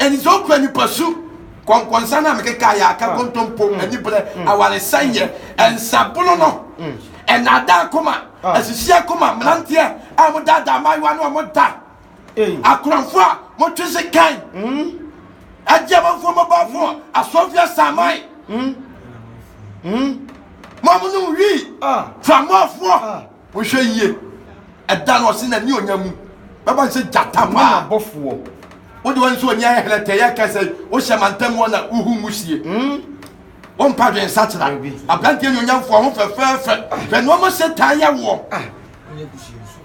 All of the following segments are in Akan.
Aniso nkura nipasu kɔnkɔnsa no a mekeka yɛ aka kontompo, anibrɛ, awaresɛeɛ, nsabono no, nnaadaa akoma, asisi akoma, mmeranteɛ a modaadaa mmaayewa ne wɔn da, akorɔmfoɔ a motwe sekan, agye amanfoɔ mmɔbɔɔfoɔ, asɔɔfie asaman, mo a monom wii, framɔɔfoɔ, Monhwɛ yie, ɛda no ɔse n'anionyam mu bɛbɔ no sɛ gyata paa. Mona bɔfoɔ. Wode w'ani so w'ani ayɛ hɛlɛtɛ yɛ kɛ sɛ wohyɛ mantam hɔ na wohu nwusie. Hmm? Wompa dwen nsakyera. Aberanteɛ nuonyamfoɔ ho fɛfɛɛfɛ. Hwɛ nneɛma Satan yɛ woɔ. Ah, wonyɛ kusie nso.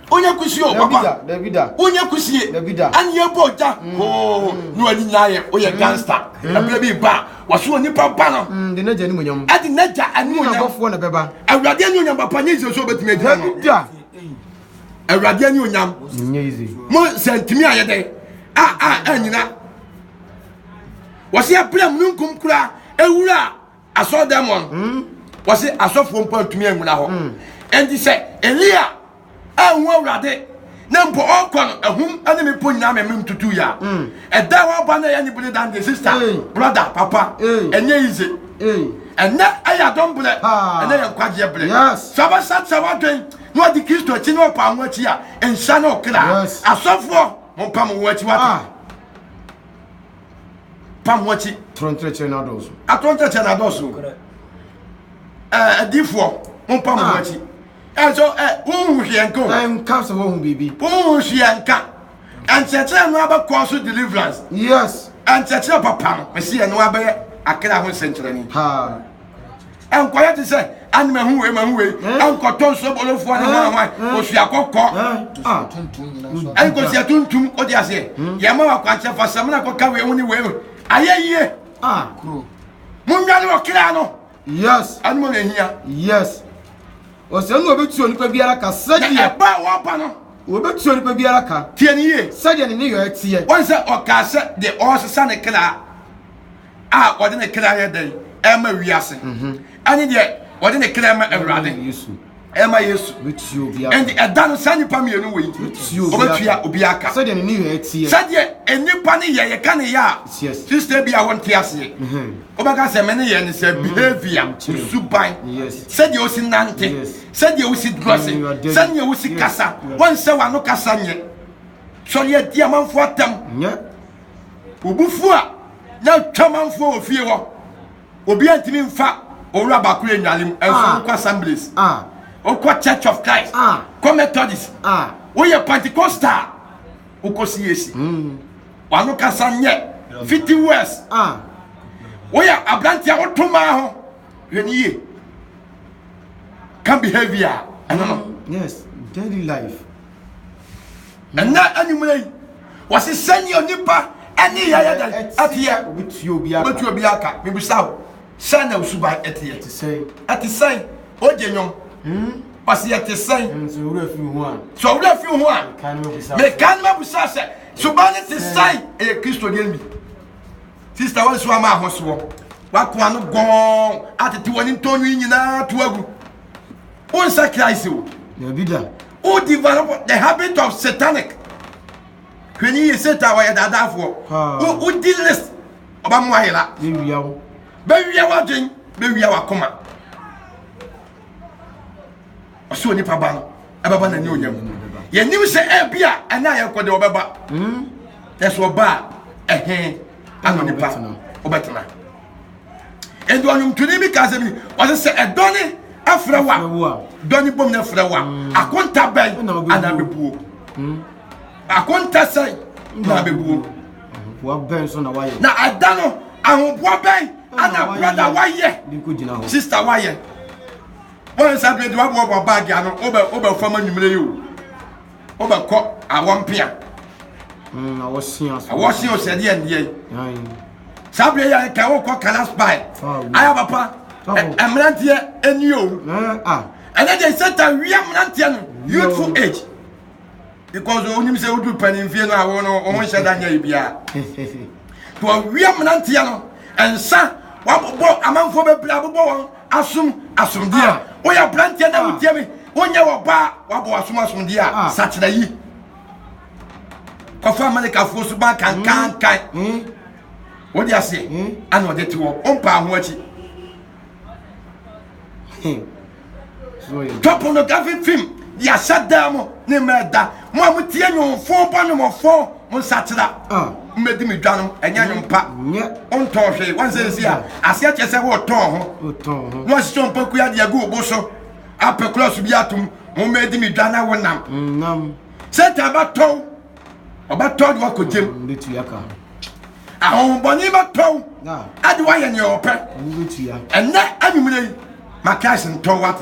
Wonyɛ kusie o, papa. Dabi da. Wonyɛ kusie. Dabi da. Ani ɛbɔ gya. Oo, ne w'ani nyinaa yɛ, woyɛ gangster. Ɛberɛ bi ba a, Wɔso onipa ba no. Mm, de n'agya animuonyam. Ɛde n'agya animuonyam. Ne n'abɔfoɔ na bɛba. Awurade animuonyam papa nye yize so obetumi agyina no. Dabi da. Awurade animuonyam. Nye yize. Mo sɛ ntumi ayɛ dɛ a a anyina. Wɔsi abira mununkum kura ewura asɔrdan mu no. Mm. Wɔsi asɔfoɔ mpo ntumi anguna hɔ. Mm. Ɛnti sɛ Elia. Anhu Awurade, na mpo ɔkɔ no ahum ne mmepɔ nyinaa mɛmɛ ntutu ya. Mm. Ɛda hɔ aba na ɛyɛ ne bene dan deɛ sista, brother, papa, ɛnyɛ yize. Ɛnɛ ɛyɛ adɔm berɛ, ɛnɛ yɛ nkwagyeɛ berɛ. Sɛ ɔbɛsa kyerɛ w'adwen na ɔde Kristo akyi na ɔpa ho akyi a, nhyɛ ne ɔkra. Asɔfoɔ, mompa mo ho akyi wate. Ah. Pa ho akyi. Toro nkyerɛkyerɛ no adɔɔso. Atoro nkyerɛkyerɛ no adɔɔso. Ɛɛ, adiifoɔ, mompa mo ho akyi. ɛnso ɛ wonhu hwee nka o ɛnka sɛ wohu biribi wonhu hwee nka ɛnkyerɛkyerɛ no abɛkɔ so deliverance yes ɛnkyerɛkyerɛ papa no mesi ɛno abɛyɛ akra ho nsɛnkyerɛni ɛnkɔyɛ te sɛ ane mahu wei mahu wei ɛnkɔtɔ nsuo bolofoɔ ne hwanhwan ɔsua kɔkɔ ɛnkɔsia tuntum wode aseɛ yɛma wakwankyɛ fa sɛmina kɔka wei ho ne wei ayɛ yie monware ɔkra no yes ɛno mo na ehia yes ɔsɛ no obetua onipa biara ka sɛdeɛ ɛba a wɔba no obetua onipa biara ka tie ne yie sɛdeɛ ne ne yɔ ɛteɛ wɔn sɛ ɔkaa sɛ deɛ ɔresesa ne kra a ɔde ne kra yɛ dɛn ɛma wiase mhm. ɛne deɛ ɔde ne kra ma awurade ɛma yesu bɛtua obi aka ɛnde ɛda no saa nnipa mmienu wei ɔbɛtua obi aka sɛdeɛ ne niyɛ ɛteɛ sɛdeɛ nnipa ne yɛ yɛka ne yɛ a sista bi a wɔnte aseɛ wobɛka sɛ me ne yɛ ne sɛ behavior suban sɛdeɛ wosi nante sɛdeɛ wosi drɔse sɛdeɛ wosi kasa wɔnsɛ w'ano kasa nyɛ sɔre adi amanfoɔ atam wobufuo a na twa amanfoɔ wɔ fie hɔ obi antumi nfa owura baako yɛ nnuane mu ɛnso wokɔ assemblies wokɔ church of christ kɔ methodist woyɛ pentecostal wokɔ cac hmm. wano kasa nyɛ fifty words woyɛ aberante a woto maa ho hwɛ ne yie ka behavior ɛno no hmm. yes daily life Ɛnnɛ anwummerɛ yi, wɔse sɛnea onipa ne yɛ yɛ dɛn ɛteɛ, wobɛtua obi aka. Mebisa wo, sɛn na osuban ɛteɛ? Ɛte sɛn? Ogye nnwom. Ɔse hmm? ɛte sɛn? Hmm, sɛ owura fi ho a, sɛ owura fi ho a, meka no mabisa sɛ suban no te sɛn? Ɛyɛ Kristo deɛ bi. Sista wɔn nso ama ahosoɔ, wako ano gɔn atete wɔn ntɔnwi nyinaa to agu. Wonsa Christ o. Yɛbi da. Wo develop the habit of satanic. Hwɛ ni yɛ satan ɔyɛ daadaafoɔ. Wo wo di list ɔba mu ayɛ la. Bɛwia wo. Bɛwia w'adwen bɛwia w'akoma. Ɔsɛ onipa ba no ɛbɛba n'ani onyam. Yɛnim sɛ ɛbi a ɛna yɛn kɔ de ɔbɛba. Ɛsɛ ɔba a ɛhe ano nipa ɔbɛtena. ɛdi ɔnwomtoni bi ka asɛm ni ɔsɛ sɛ ɛdɔ ne ɛfrɛ wa dɔ ne bom ne ɛfrɛ wa mm. akonta bɛn ana bɛbuo mm. akonta sɛn na bɛbuo na ɛda no ahoboa bɛn ana brada wayɛ sista wayɛ wɔn nsa bɛdi waboaboa baagi ano wobɛ fam anwummerɛ yi o wobɛkɔ awɔ mpea mm, awɔ sia awɔ sia ɔsɛdeɛ ndeɛ saa berɛ yɛ ka wokɔ kalas bae ayɛ papa mmeranteɛ ɛni o ɛnɛ deɛ satan wia mmeranteɛ no youthful age because wonim sɛ wodu panimfie no a wo no wo ho nhyɛ da nyɛ yɛ biara nti wɔwia mmeranteɛ no ɛnsa wabobɔ amanfoɔ bɛbrɛ abobɔ wɔn Asom asomdie a woyɛ aberanteɛ na wotie me wonyɛ wɔbaa wabɔ wasom asomdie a ah. sakyera yi kɔfa amalikafoɔ so ba kankankan hmm. hmm. wode aseɛ hmm. ana ɔde te hɔ wompaa ho akyi tɔ pornographic film yɛahyɛ daa mu ne mmerɛ da mo a motie nwomfo bɔ nwomfo mo nsakyera mmɛdi me dwa no ɛnyɛ nwom pa wontɔn hwee wansɛ ɛsi a aseɛ kyerɛ sɛ wotɔn ho na wasesɛ ɔmpaku ade agu wo bo so apɛ kora so bi atom wommɛdi me dwa na wonam satan bɛtɔw ɔbɛtɔw de wakɔgyam ahohombɔne bɛtɔw ade woayɛ neɛ ɔpɛ ɛnɛ anwummerɛ yi ma christ ntɔw wate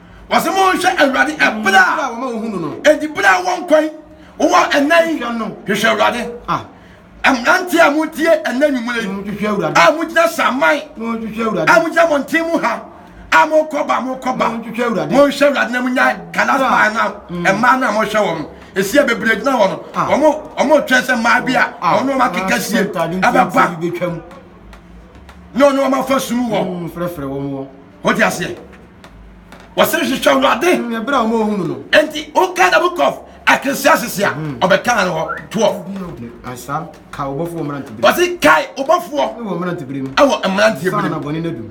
Ɔsɛ mo nhwɛ awurade ɛbere a edi bere a wɔn kwan wɔ ɛnna yi hwehwɛ awurade mmerante a mo tie ɛnna nwumire a mo gyina saman a mo gyina mɔnten mu ha a mo kɔba mo kɔba mo nhwɛ awurade na mo nya kalas baa na mmaa na mo hwɛ wɔn esi a bebree gyina wɔn wɔn wɔn twɛn sɛ mmaa bi a wɔn wɔn akeka sie ɛbɛba na wɔn wɔn afa sum wɔn wɔn ti aseɛ. wɔsɛ hwehwɛ awurade mm, ɛberɛ a wɔn ohun no nti woka the book of ecclesiastes a mm. ɔbɛka no hɔ 12 ansa kae wobɔfoɔ mmeranteberɛ wɔse kae wobɔfoɔ wɔ mmeranteberɛ mu ɛwɔ mmeranteberɛ mu bɔne no adu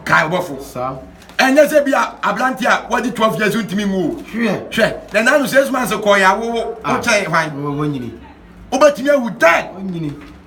kae wobɔfoɔ saa ɛnyɛ sɛ bi a aberante a wadi 12 years ntumi nwu o hwɛ na nanu sɛ suma nso kɔɔ yɛ awowo wokyɛn hwan wobɛtumi awu dan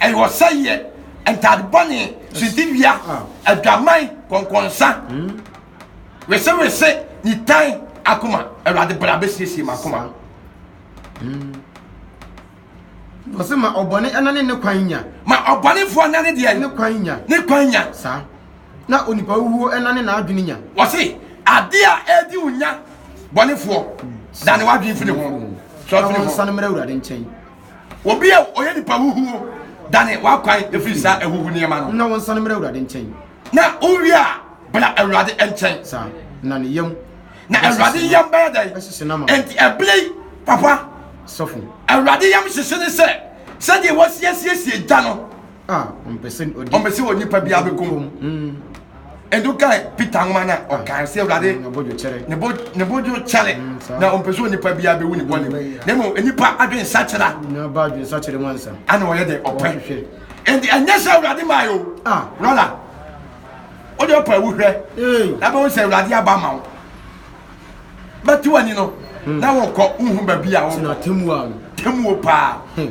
ɛyɛ ɔsɛeɛ ntade bɔne sintidua adwaman kɔnkɔnsa hmm? wesewese nitan akoma awurade bra bɛsiesie m'akoma hmm. ɔsɛ ma ɔbɔne ɛna ne ne kwan nya ma ɔbɔnefoɔ na ne deɛ ne kwan nya ne kwan nya saa na onipa wuo ɛna ne n'adwene nya ɔse adeɛ a ɛdi wo nya bɔnefoɔ hmm. da ne w'adwene firi ho sɔfiri ho ɔnsane mmerɛ awurade nkyɛn obi a ɔyɛ nipa huhuo dane w'akwan ɛfiri saa ahuhu nneɛma no na wɔnsane mmerɛ awurade nkyɛn na wowie a bra awurade nkyɛn saa na ne yam na awurade yam bɛyɛ dɛn ɛhyehye no ma ɛnti ɛberɛ yi papa sɔfo awurade yam hyehye ne sɛ sɛdeɛ wɔsiesiesie gya no Ah, ɔmpɛ sɛ ɔdi. Ɔmpɛ sɛ ɔdi pa bi abɛkum. Mm. Ɛdu kan Peter nwoma na ah. ɔkan sɛ Awurade mm, ne bo ne bo dwo kyɛre mm, na ɔmpɛ sɛ onipa bi abɛwu ne bɔne mu. Na mmom nipa adwen sakyera. Na ba adwen sakyera mu ansa. Ana ɔyɛ dɛ ɔpɛ. Ɛnti ɛnyɛ sɛ Awurade maa yɛ o. Ah, brother. O de ɔpɛ awu hwɛ. Na bɛhu sɛ Awurade aba ma wo. Bɛte w'ani no. Hmm. Na wɔkɔ wohu baabi a wɔkɔ. Tena temuo paa. Hmm.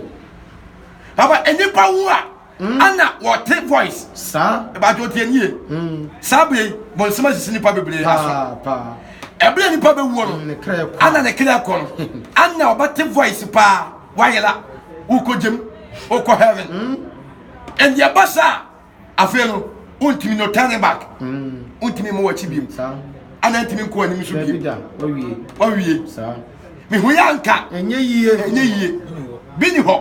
Papa, nnipa wu a, mm. ana wɔte voice. Saa. Ɛbadwo deɛ nie. Mm. Saa bere bɔnsɛm asisi nnipa bebree aso. Paa. Ɛbere nnipa bɛwuo no, mm, ana ne kra kɔ no, ana ɔbɛte voice paa, wayela, wokɔgyem, wokɔ heaven. Ɛndeɛ ba saa afei no wontumi no turn back wontumi mmɔ w'akyi biom ana ntumi nkɔ anim so biom wawie mehu yɛ anka ɛnyɛ yie ɛnyɛ yie bi ni hɔ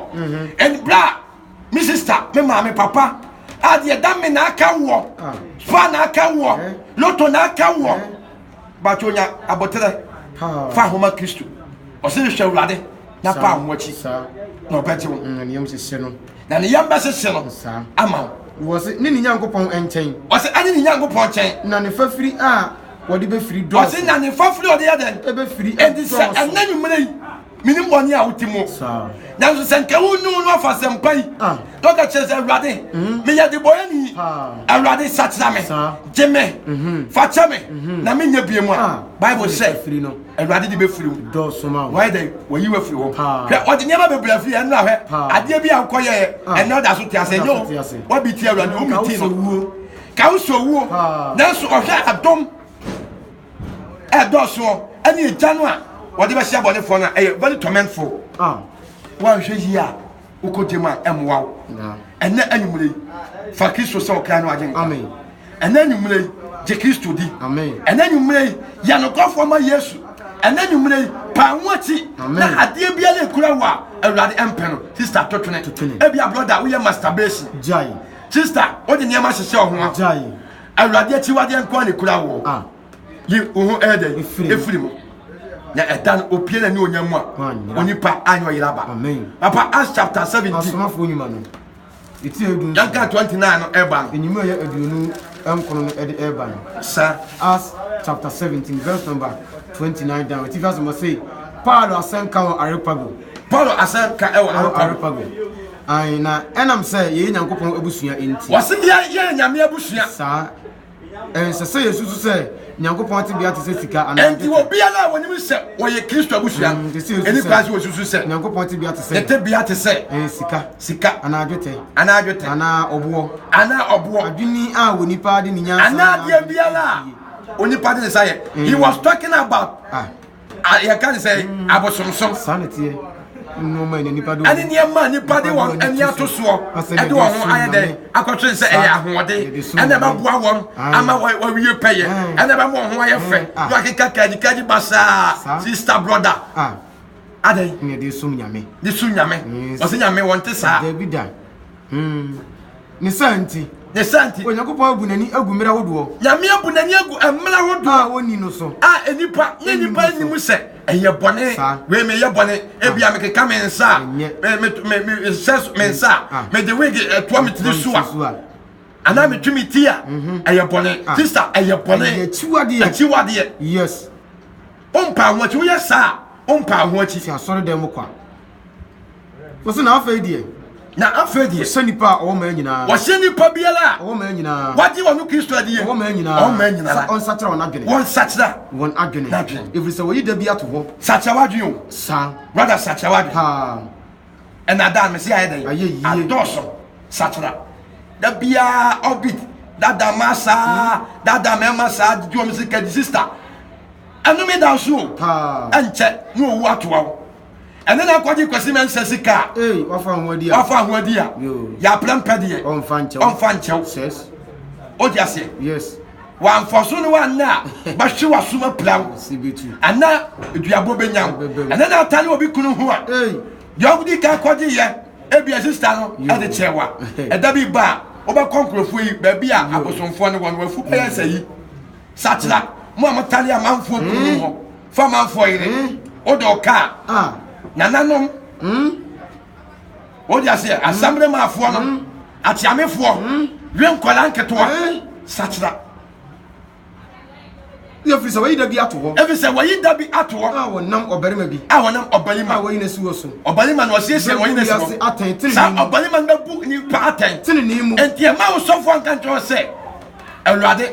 ɛn bra me sista me maame papa adeɛ da me na aka woɔ fa na aka woɔ loto na aka woɔ bato nya aboterɛ fa ahoma kristo ɔse hwehwɛ awurade na pa ho akyi na ɔbɛgye wo mm, na ne yam bɛhyehye no ama wo ɔse ne ne nyankopɔn nkyɛn ɔse ɛne ne nyankopɔn nkyɛn na ne fafiri a wɔde bɛfiri dɔɔso ɔse na ne fafiri ɔde yɛ dɛn ɛbɛfiri ɛnti sɛ ɛnɛ nwummerɛ yi menim bɔne a wodi mu nanso sɛ nka wonyi wo no afa sɛmpa yi ah. na ɔka kyerɛ sɛ awurade mhm. meyɛ de bɔyɛni awurade sakyera me gye me mhm. fakyɛ me mhm. na menyɛ bie mu a ah. bible sɛ awurade de bɛfiri wo wayɛ dɛ wayi wafiri hɔ hwɛ ɔde nneɛma bebree afiri ɛno ahwɛ ah. adeɛ bi a wokɔyɛɛ ɛnɛ ɔda so te asɛ nyɛ o wabi ti awurade wometi no ka wo sɛ owuo nanso ɔhwɛ adom ɛdɔɔsoɔ ɛne agya no a wɔde bɛhyɛ abɔnefoɔ no a ɛyɛ very tormentful ah. woanhwɛ yie a wokɔ gyam a ɛmmoa wo ɛnɛ anwummerɛ yi fa kristo sɛ ɔkra no agye nkwa ɛnɛ anwummerɛ yi gye kristo di ɛnɛ anwummerɛ yi yɛ nokɔfoɔ ma yesu ɛnɛ anwummerɛ yi paa ho akyi na adeɛ biara ɛkura wo a awurade ɛmpɛ no sista totwene ebia brɔda woyɛ masturbation sista wode nneɛma hyehyɛ wo ho a awurade akyiwadeɛ nko a ne kura wɔ ah. yi wo ho ɛyɛ dɛ ɛfiri mu na ɛda no opie na ne ɔnya mu a onipa anyɛ ɔyera ba papa as chapter 17 yɛnka 29 no ɛba no ɛnyimu ɛyɛ aduonu nkono no ɛde ɛba no sɛ as chapter 17 verse number 29 down ɛtifi asɛm ɔse paulo asɛnka wɔ arepago paulo asɛnka ɛwɔ arepago Ae, na ɛnam sɛ yɛyɛ Nyankopɔn abusua nti. Wɔse yɛ, yɛyɛ Nyame abusua. Saa. Ɛnsɛ sɛ yɛsusu sɛ Nyankopɔn tebea te sɛ sika anaa dwetɛ. Ɛnti obiara a wɔnim sɛ wɔyɛ Kristo abusua no, mm, ɛni kwan sɛ wɔsusu sɛ Nyankopɔn tebea te sɛ, ne tebea te sɛ, eh, sika, sika, anaa dwetɛ, anaa dwetɛ, anaa ɔboɔ, anaa ɔboɔ, adwini a onipa de ne nyansa, anaa deɛ biara a onipa de ne nsa yɛ. He was talking about. Ah. yɛka ne sɛ mm. abosomsom saa ne teɛ nneɛma ne nipa de wɔn ɛne nneɛma nipa de wɔn ani ato soɔ ɛde wɔn ho ayɛ dɛ akɔtwe sɛ ɛyɛ ahoɔden ɛna ɛbɛboa wɔn ama wɔawie pɛyɛ ɛna ɛbɛma wɔn ho ayɛ fɛ na wakeka kadikadi basaa sista broda adɛn ne de som nyame de som nyame wɔsɛ nyame wɔn te saa dabi da hmm. Ne saa nti. Ne saa nti. Onyankopɔn abu n'ani agu mmere ahodoɔ. Nyame abu n'ani agu mmere ahodoɔ. A ɔnni no so. A nnipa ne nnipa nnim sɛ ɛyɛ bɔne. Saa. Wei meyɛ bɔne. Ebia mekeka me nsa a. Ɛnyɛ. Me me me me nhyɛ so me nsa a. Mede wig ɛtoa me tiri so a. Anaa metwe me ti a. Ɛyɛ bɔne. Sista ɛyɛ bɔne. Ɛyɛ akyiwadeɛ. Akyiwadeɛ. Yes. Wompaa ho akyi woyɛ saa a wompaa ho akyi. Fi asɔredan mu kɔ a. wɔsi na afei deɛ na afei deɛ wɔhyɛ nipa a ɔwɔ mmaa nyinaa wɔhyɛ nipa biara a ɔwɔ mmaa nyinaa wagye wɔn kristo adiɛ ɔwɔ mmaa nyinaa ɔwɔ mmaa nyinaa sɛ ɔnsakyera wɔn adwene wɔn nsakyera wɔn adwene n'adwene efiri sɛ wɔyi da bi ato hɔ sakyera wadwene o saa brada sakyera wadwene paa ɛna dan mesi ayɛ dɛ ayɛ yie adɔɔso sakyera da biara ɔbit dada ma saa hmm. dada mɛma saa di wɔn sika di sista ɛnum da nso o ɛnkyɛ ne owu atoa o. ɛne na akɔgye kwasi mɛnsɛ sika a ee wafa ho adi a wafa ho adi a yoo yɛaprɛ mpɛ deɛ ɔnfa nkyɛw ɔmfa nkyɛw sɛs ɔdi aseɛ yes wamfa so no wanna a bɛhwe wasoma pira wo si bi tu ɛna duabɔ bɛnya wo Ɛbɛbɛ wo. ɛne na atane obi kunu ho a ee deɛ ɔdi ka kɔgye yɛ ebia sista no Yoo. ɛde kyerɛ wa ɛda bi ba a wobɛkɔ nkurɔfoɔ yi baabi a abosomfoɔ no wɔ no wafu bɛyɛ sɛ yi sakyera mo a motane amanfoɔ kunu mu hɔ fa manfoɔ yere wode wo kaa nananom wode aseɛ asammerɛ maafoɔ no ateamefoɔ we nkɔla nketewa sakyera ɛfiri sɛ wayi da bi ato hɔ ɛfiri sɛ wayi da bi ato hɔ a wɔnam ɔbarima bi a wɔnam ɔbarima a wɔyi n'asi wɔ so ɔbarima na ɔsiesie wɔyi n'asi wɔ atɛn tenenee saa ɔbarima no bɛbu nipa atɛn tenenee mu nti ɛma wo sɔfoɔ nka nkyerɛ sɛ awurade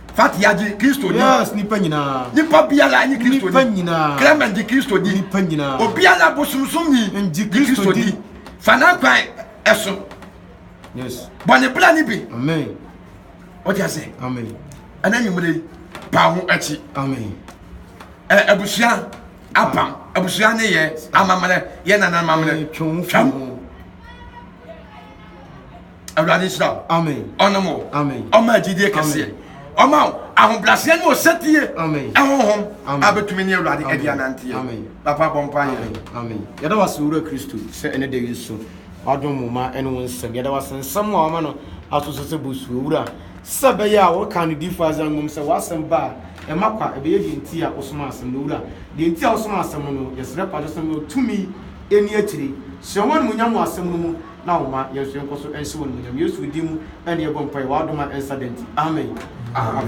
Fat yagye Kristo di. Yes, nipa nyinaa. Nipa biara nye Kristo di. Nipa nyinaa. Clement gye Kristo di. Nipa nyinaa. Obiara bosomsom ni. Ngye Kristo di. Fa n'akwan ɛso. Yes. Bɔ ne bra ne bi. Amen. Wọ́n ti ase. Amen. Ẹnna ẹ̀yìnmúlẹ̀ yìí pa ho ẹ̀kyi. Amen. Ẹ ẹ̀bùsùá apam ẹ̀bùsùá ne yẹ amamrẹ yẹ nana amamrẹ. Twẹ́n. awurade nhyira wo ɔnom wo ɔma agyidie kɛseɛ ɔma ahobraseɛ ne ɔsɛtie ɛhohom abɛtumi ne awurade adi ananteɛ papa bɔ mpa yɛ yɛda wase wura kristo sɛ ɛne da yi so wadom mo ma ɛne wo nsɛm yɛda wase nsɛm a ɔma no aso so sɛ bosuo wura sɛ bɛyɛ a wɔka no difo adze angom sɛ wasɛm ba a ɛma kwa ɛbɛyɛ deɛ nti a wosoma asɛm no wura deɛ nti a wosoma asɛm no yɛsrɛ pa sɛ sɛm no tumi ɛni akyiri hyɛ wɔn mu nya mu asɛm no mu na ɔma yɛn nso yɛnkɔ so nhyɛ wo animuonyam. Yesu din mu ne yɛbɔ mpaeɛ, w'adom a ɛnsa da nti, amen.